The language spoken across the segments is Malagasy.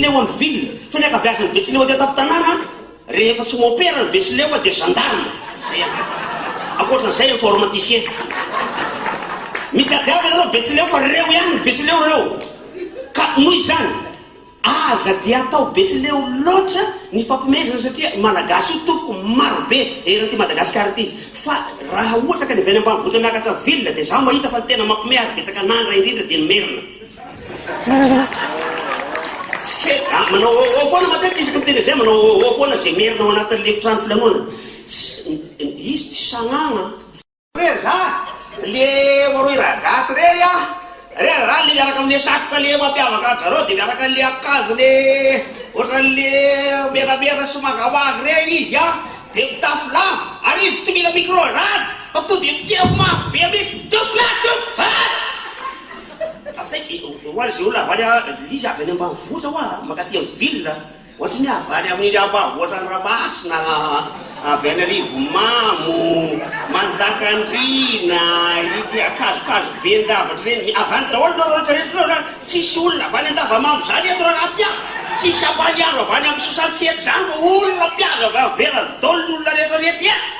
Teo amin'ny ville, fa ny ankabeazan'ny Betsileo aty an-tampon-tanàna, rehefa tsy môpera ny Betsileo dia gendarme. Zay an. Ankoatran'izay informaticiens. Mitadiava ianareo Betsileo fa reo ihany ny Betsileo reo. Ka noho izany, aza dia atao Betsileo loatra ny fampihomezana satria Malagasy io tompoko maro be eran'ity Madagasikara ity. Fa raha ohatra ka ny avy any ambanivohitra miakatra ville dia izaho mahita fa ny tena mampihomehy ary betsaka an'angra indrindra dia ny merina. Ah, manao oh oh foana matetika isaky ny teny izay manao oh oh foana izay merina ao anatin'ny lefitrano filanoana. Izy tsy sagnagna. Re ra, le maroy ra gasy re ya. Re ra le miaraka amle satroka le mampiavaka azy zareo dia miaraka le akanjo le ohatran'le meramera sy mangamanga re izy ya. Dia mitafy lamba ary izy tsy mila micro rano fa to dia miteny mafy be mihitsy. Dop la dop. Avy izay, hoy azy ireo, Lavaly a, ry izy avy any ambanivohitra hoa, mankaty amin'ny ville, ohatry ny hoe avy any amin'ny ambanivohitran'i Ramasina, avy any Arivomamo, Manjakandriana, ity akazokazo ben-javatra ireny, avy any daholo ireo rehetra rehetra ireo izany, tsisy olona avy any Andavamamba izany eto Rarafy a, tsisy Ampaniaro avy any amin'ny Sosantsehatra izany fa olona mpiavy avy any Beradol ny olona rehetra rehetra e!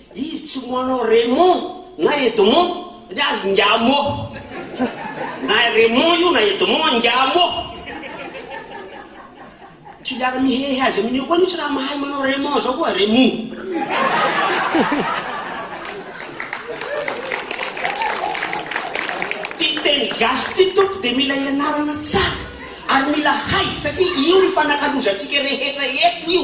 Izy tsy moa anao Raymond na Edmond satria azy ingahy moa. Na Raymond io na Edmond an, ingahy moa. Tsy hiara mihehy azy amin'io koa anie tsy raha mahay manao Raymond zao koa, Raymond. Ty teny gasy ty tompoko dia mila ianarana tsara ary mila hay satria io no fanakalozantsika rehetra eto io.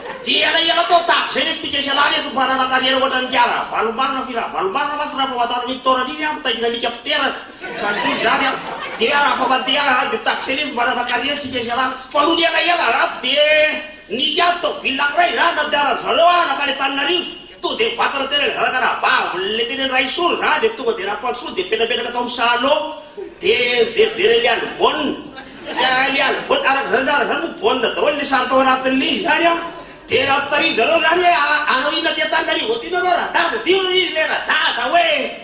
Dia elaela teo tahak'izay lesy isika isalahy lesy mba nanana kariera ohatran'i Ngiahy Ravalombanana f'I Ravalombanana mantsy raha famantarana an'iny taonany iny aho mitaingina alika mpiteraka sady tsy izy zany aho dia raha fa mandeha raha dia tahak'izay lesy mba nanana kariera isika isalahy fa nony elaela raha dia nisy ady tôbily anankiray raha nandehanan'izareo aho nankany Antananarivo Tonga dia vakana tena ilay zanaka rahavaviny, ilay tena Raisoa izany dia tonga dia Rampandrosoa dia mipetrapetraka tao amin'ny salon dia nijerijery an'i Lialivona, ka Lialivona, araka izany araka izany moa baolina daholo ilay sary tao anatin'ny ligne izany an, dia nampitarihin'i zareo izany hoe hanao inona aty an-taninarivo aty nareo radada, dia hoy izy ilay radada hoe.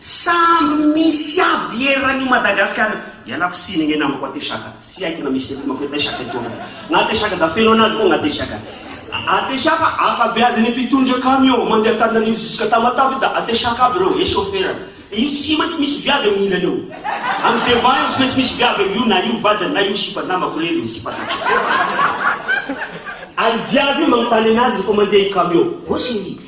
Samby misy aby eran io Madagascar io. Ialako tsiny anie namako Ateshaka tsy haiko na misy eto mako Ateshaka eto aza na Ateshaka da feno anazy fogna Ateshaka Ateshaka ankabeazany mpitondra camion mandeha Antananarivo jusqu'à Tamatave da Ateshaka aby reo et chauffeur any de io tsy maintsy misy viavy aminy ilany eo any devant eo tsy maintsy misy viavy aminy io na io vadiny na io sipa namako lery io sipa tratry Ary viavy io manontany anazy refa mandeha i camion ô cherie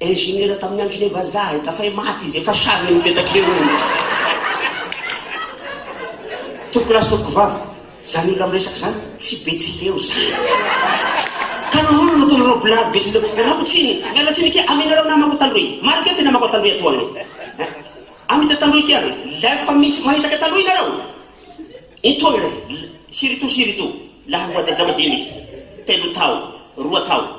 Ingénieur tamin'ny andron'ireo vazaha e, tafay maty izy, efa sary le mipetaka eo hono. Tompoko lahy sy tompoko vavy, zany olona miresaka zany tsy Betsileo zany. Ka nahoana no ataonareo blague Betsileo? Ialako tsiny, miala tsiny akia aminareo namako taloha e. Marina akia ty namako taloha eto an e. Amita taloha akia re, la efa misy mahitaka taloha ianareo. Intoy re, sirito sirito, laha ho ajaja madiniky, telo tao, roa tao.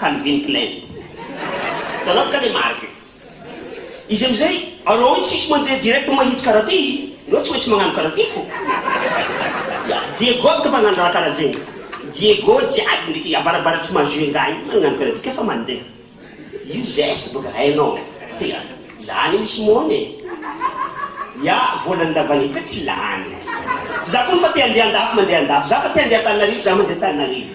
Calvin Klein. Hitanareo kay le marque io. Izy amizay, anao io tsisy mandeha direct mahitsy karaha ty, enao tsy maintsy magnano karaha ty fô. Ya, Diego aby ka magnano raha karaha zegny. Diego jiaby ndreky avarabaratry Majunga igny magnano karaha ty ka fa mandeha. Io zeste boka hainao. Ya, zany io misy mony e. Ya, vôlan'ny ndavanio ka tsy lany. Za koa fa te handeha andafy mandeha andafy. Za fa te handeha Antananarivo, za mandeha Antananarivo.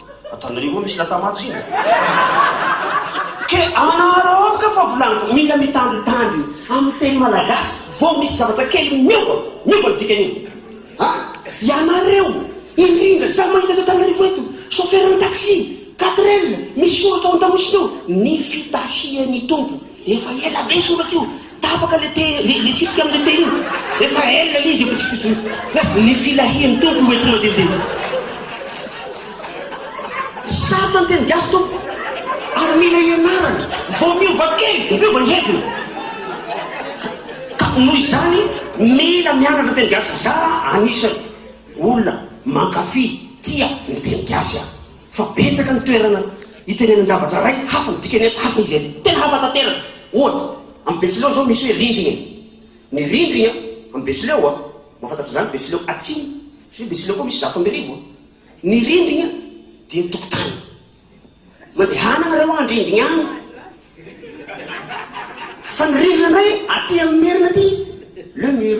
Ataonareo moa misy lata-maty zay? Ke anareo ao ka fa volaniko, mila mitandritandry amin'ny teny malagasy vao misy zavatra kely miova, miova ny dikan'iny. Ha? Ianareo, indrindra, izaho mahita eto Antananarivo eto, chauffeur-n'ny taxi, quatrelle, misy soratra ao an-tamosiny ao, ny fitahian'ny Tompo. Efa ela be io soratra io, tapaka le te, le, le tsipika amle te io, efa ela le izy efa tsy fotsiny, na ny filahian'ny Tompo no entinao didiana. Sarotra ny teny gasy Tompo, ary mila ianarana, vao miova kely dia miova ny heviny. Ka noho izany mila mianatra teny gasy, za anisany olona mankafy, tia ny teny gasy aho. Fa betsaka ny toerana itenenan-javatra iray hafa ny dikany eto, hafa izy eto. Tena hafa tanteraka. Ohatra, amin'ny Betsileo izao misy hoe rindrina. Ny rindrigna amin'ny Betsileo, mahafantatra izany Betsileo Atsimo, satria Betsileo koa misy zato amby arivo. Ny rindrigna dia ny tokotany. Mandehana nareo any rindrigna any. Fa ny rindrina indray aty amin'ny Merina aty, le mur.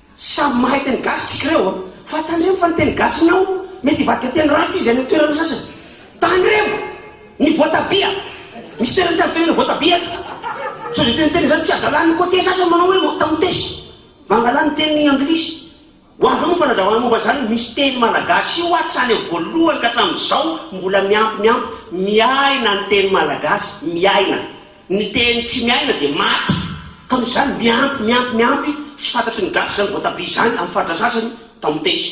Samy mahay teny gasy tsika ireo a! Fa tandremo fa ny teny gasinao mety hivadika teny ratsy izy any amin'ny toerana sasany. Tandremo! Ny voatabia! Misy toerana tsy azo tenenina voatabia eto. Sao dia teniteny izany tsy hadalany ny côtiers sasany manao hoe motamotes. Mangalà ny teny anglisy. Ho avy eo moa ny fanazavana momba izany. Misy teny malagasy io hatrany amin'ny voalohany ka hatramin'izao mbola miampy miampy. Miaina ny teny malagasy! Miaina! Ny teny tsy miaina dia maty. Ka noho izany miampy, miampy, miampy, tsy fantatry ny gasy izany voatabia izany amin'ny faritra sasany, tamatesy.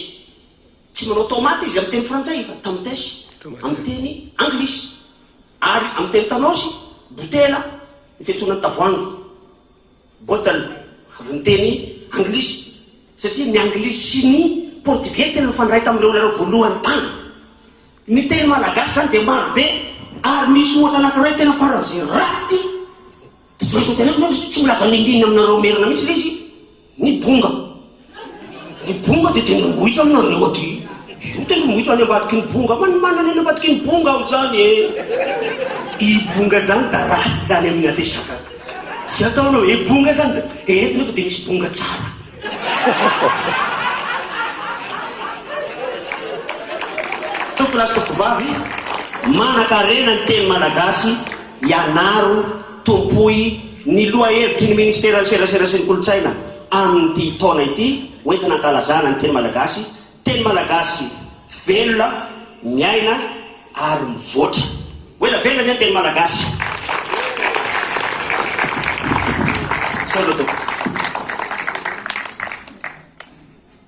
Tsy manao tomate izy amin'ny teny frantsay fa tamatesy amin'ny teny anglisy. Ary amin'ny teny tanosy, botela ny fiantsoana ny tavoahangy. Bottle, avy ny teny anglisy, satria ny anglisy sy ny portugais tena nifandray tamin'ireo olona voalohany tany. Ny teny malagasy izany dia maro be ary misy ohatra anankiray tena faran'izay ratsy ity, dia tsy maintsy hoteneniko aloha satria tsy milaza nindinina aminareo merina mihitsy ilay izy, ny bonga. Ny bonga dia tendrombohitra aminareo aty. Io tendrombohitra any ambadiky ny bonga. Fa ny manana eny ambadiky ny bonga aho izany eh. I bonga izany da ratsy izany amin'ny ateshaka. Tsy ataonao eh bonga izany da eto nefa dia misy bonga tsara. Tompolahy sy tompovavy, manan-karena ny teny malagasy, ianaro. Tompoy ny lohahevitry ny Ministeran'ny Serasera sy ny Kolontsaina amin'ity taona ity hoentina hankalazana ny teny malagasy, teny malagasy velona, miaina ary mivoatra. Ho ela velona anie ny teny malagasy. Misaotra tompoko.